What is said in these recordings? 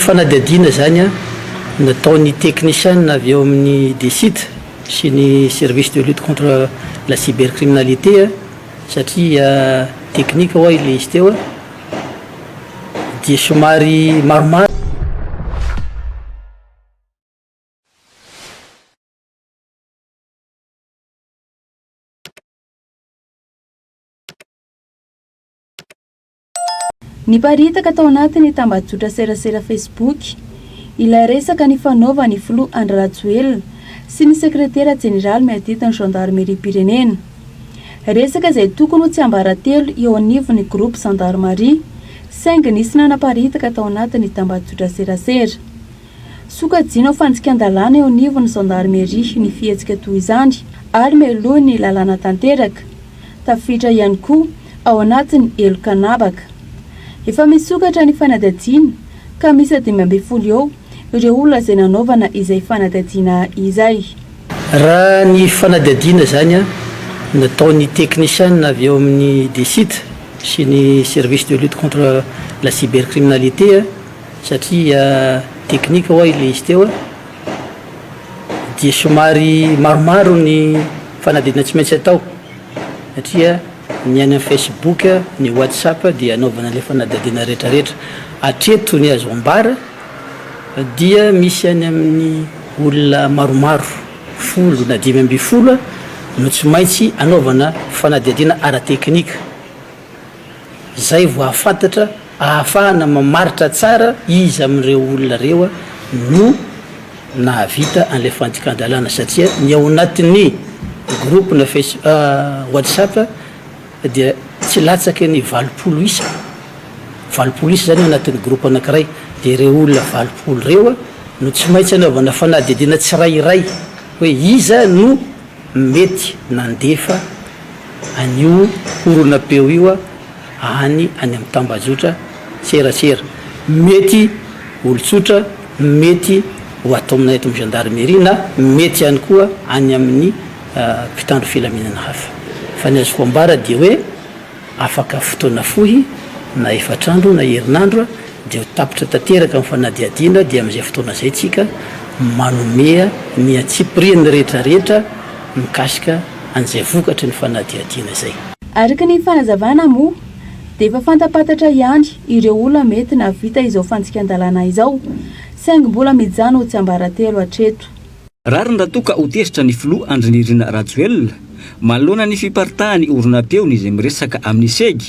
Fanadihadiana izany nataon'ny teknisiana avy ao amin'ny DCID sy ny Service de lutte contre la cybercriminalité satria teknika ho'a ilay izy teo dia somary maromaro. Niparitaka tao anatin'ny tambajotra serasera Facebook ilay resaka nifanaovan'ny filoha Andry Rajoelina sy ny sekretera jeneraly miaditin'ny zandarimeriam-pirenena. Resaka izay tokony ho tsiambaratelo eo anivon'ny groupe zandarimaria saingy nisy nanaparitaka tao anatin'ny tambajotra serasera. Sokajiana ho fandikan-dalàna eo anivon'ny Zandarmeria ny fihetsika toy izany ary mialoha ny lalàna tanteraka. Tafiditra ihany koa ao anatin'ny heloka anabaka. Efa misokatra ny fanadihadiana ka miisa dimy ambin'ny folo eo ireo olona izay nanaovana izay fanadihadiana izay. Raha ny fanadihadiana izany nataon'ny teknisiana avy ao amin'ny DCIT sy ny Service de lutte contre la cybercriminalité, satria technique ho'a ilay izy teo dia somary maromaro ny fanadihadiana tsy maintsy atao satria ny any amin'ny Facebook ny WhatsApp dia anaovana ilay fanadihadiana rehetrarehetra hatreto ny azo ambara dia misy any amin'ny olona maromaro folo na dimy ambin'ny folo no tsy maintsy anaovana fanadihadiana ara-technique izay vao hahafantatra ahafahana mamaritra tsara iza amin'ireo olona ireo no nahavita an'ilay fandikan-dalàna satria ny ao anatin'ny groupe-na face whatsapp dia tsy latsaky ny valopolo isa, valopolo isa izany ao anatin'ny groupe anankiray dia ireo olona valopolo ireo no tsy maintsy anaovana fanadihadiana tsirairay hoe iza no Mety nandefa an'io horonam-peo io aho any any amin'ny tambajotra serasera. Mety olon-tsotra, mety ho ataonay eto amin'ny gendarmerie na mety ihany koa any amin'ny mpitandro filaminana hafa. Fa ny azoko ambara dia hoe Afaka fotoana fohy, na efatr'andro na herinandro, dia ho tapitra tanteraka ny fanadihadiana, dia amin'izay fotoana izay tsika manome ny antsipirian'ny rehetra rehetra mikasika an'izay vokatry ny fanadihadiana izay. Araka ny fanazavana moa, dia efa fantampantatra ihany ireo olona mety nahavita izao fandikan-dalàna izao, saingy mbola mijanona ho tsiambaratelo hatreto. Rariny raha toa ka ho tezitra ny filoha Andry Nirina Rajoelina, manoloana ny fiparitahan'ny horonam-peony izay miresaka amin'ny CEG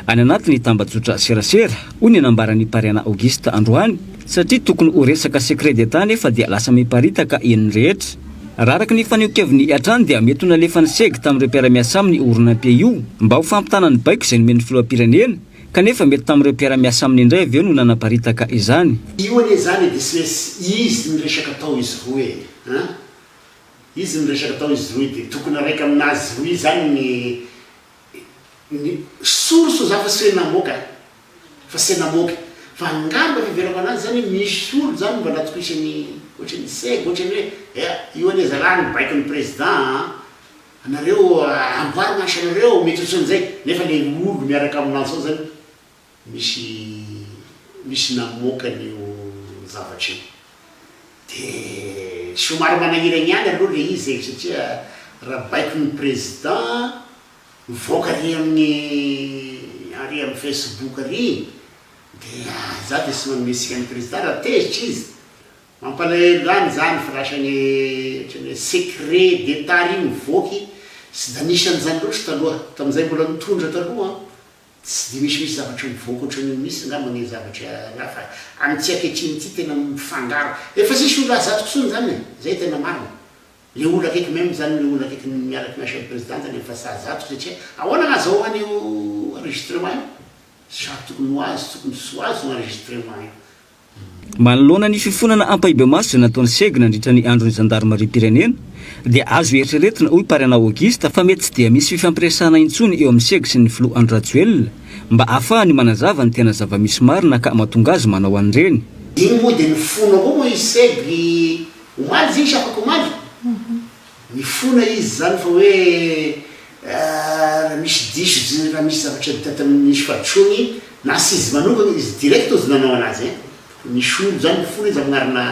any anatin'ny tambajotra serasera, hoy ny nambaran'i Pariana Auguste androany, satria tokony ho resaka secret d'Etat nefa dia lasa miparitaka eny rehetra. Raha araka ny fanehoan-keviny hatrany dia mety ho nalefan'ny CEG tamin'ireo mpiara-miasa aminy io horonam-pe io mba ho fampitana ny baiko izay nomen'ny filoham-pirenena, Kanefa mety tamin'ireo mpiara-miasa aminy indray avy eo no nanaparitaka izany. Io anie izany e Disness izy miresaka tao izy roa e an! Izy miresaka tao izy roa de tokony araika aminazy roa izany ny ny source za fa se namoaka a! Fa se namoaka fa angamba fiheverako anazy izany hoe misy olo izany mba natokisany ohatry ny sega ohatry ny hoe ea io anie zalahy no baiko ny président an! Anareo amboary mantsy anareo mety otsan'izay nefa le olo miaraka aminanjy ao zany misy misy namoaka an'io zavatra io de somary manahirana ihany aloha le izy e satria raha baiko ny président mivoaka ary amin'ny ary amin'ny facebook ary de za de tsy manome tsika ny président raha tezitra izy Mampalahelo zany izany fa lasa ny otrany hoe secret d'etat ry mivoaky sy da nisy an'izany loatra taloha tamin'izay mbola nitondra taloha an! tsy de misy misy zavatra mivoaka ohatran'io misy ngamba ny zavatra raha fa amin'ity ankehitriny ity tena mifangaro efa tsisy olona azo zato tsony zany e! zay tena marina le olona akaiky même zany le olona akaiky ny miaraka miasa am president zany efa saha zato satria ahoana ny azahoany io enregistrement io? zato tokony ho azy tokony tsy ho azy io enregistrement io! Manoloana ny fifonana ampahibemaso izay nataon'i Seg nandritra ny andron'ny zandarimariam-pirenena, dia azo eritreretina, hoy Parenao Auguste, fa mety tsy dia misy fifampiresahana intsony eo amin'i Seg sy ny filoha Andry Rajoelina mba hahafahany manazava ny tena zava-misy marina ka mahatonga azy manao an'ireny. Iny moa dia nifono avao moa i Seg omaly zay isafakomaly. Mifona izy zany fa hoe raha misy diso raha misy zavatra vita tamin'ny nisy fahadisoany na tsy izy manokana izy direct ozy nanao anazy hein fa misy olo zany mifona izy agnarina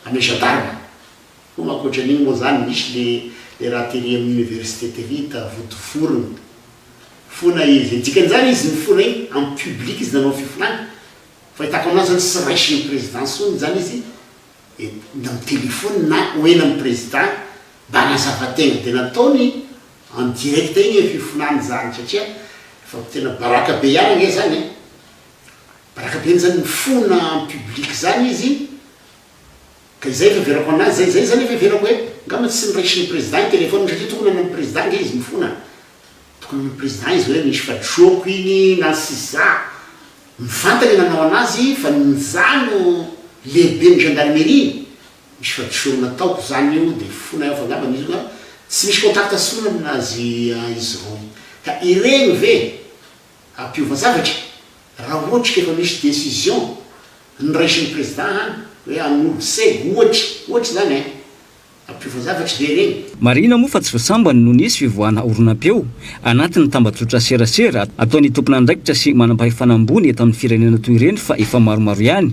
ame gendarme ko ma akoatran'igny moa zany misy le le raha tery amin'ny université tery hita vodiforony fona izy e dikan'izany izy nifona igny en public izy nanao fifonany fahitako anazy zany tsy raisin'ny président ntsony zany izy eny amin'ny téléphone na ho eny amin'ny président mba hanazava tegna de nataony en direct iny fifonany zany satria efa tena baraka be ihany ange zany e, baraka be zany mifona en public zany izy ka izay fiheverako anazy zay, zay zany fiheverako hoe ngamba tsy niraisin'ny président ny téléphone satria tokony any amin'ny président ange izy mifona. Tokony ny président izy hoe misy fadroako iny na sisa. Mivantana i nanao anazy fa ny nja no lehiben'ny gendarmerie. Misy fadrosoany nataoko zany io de fona aho fa ngambany izy ka tsy misy contact intsony aminazy izy roy. Ka iregny ve ampiova zavatra raha ohatry ka efa misy décision noraisin'ny président any hoe hanolo se ohatry ohatry zany eh. Ampiova zavatra ve reny? Marihina moa fa tsy vao sambany no nisy fivoahana horonam-peo anatin'ny tambajotra serasera ataon'ny tomponandraikitra sy manampahefana ambony eto amin'ny firenena toy ireny fa efa maromaro ihany.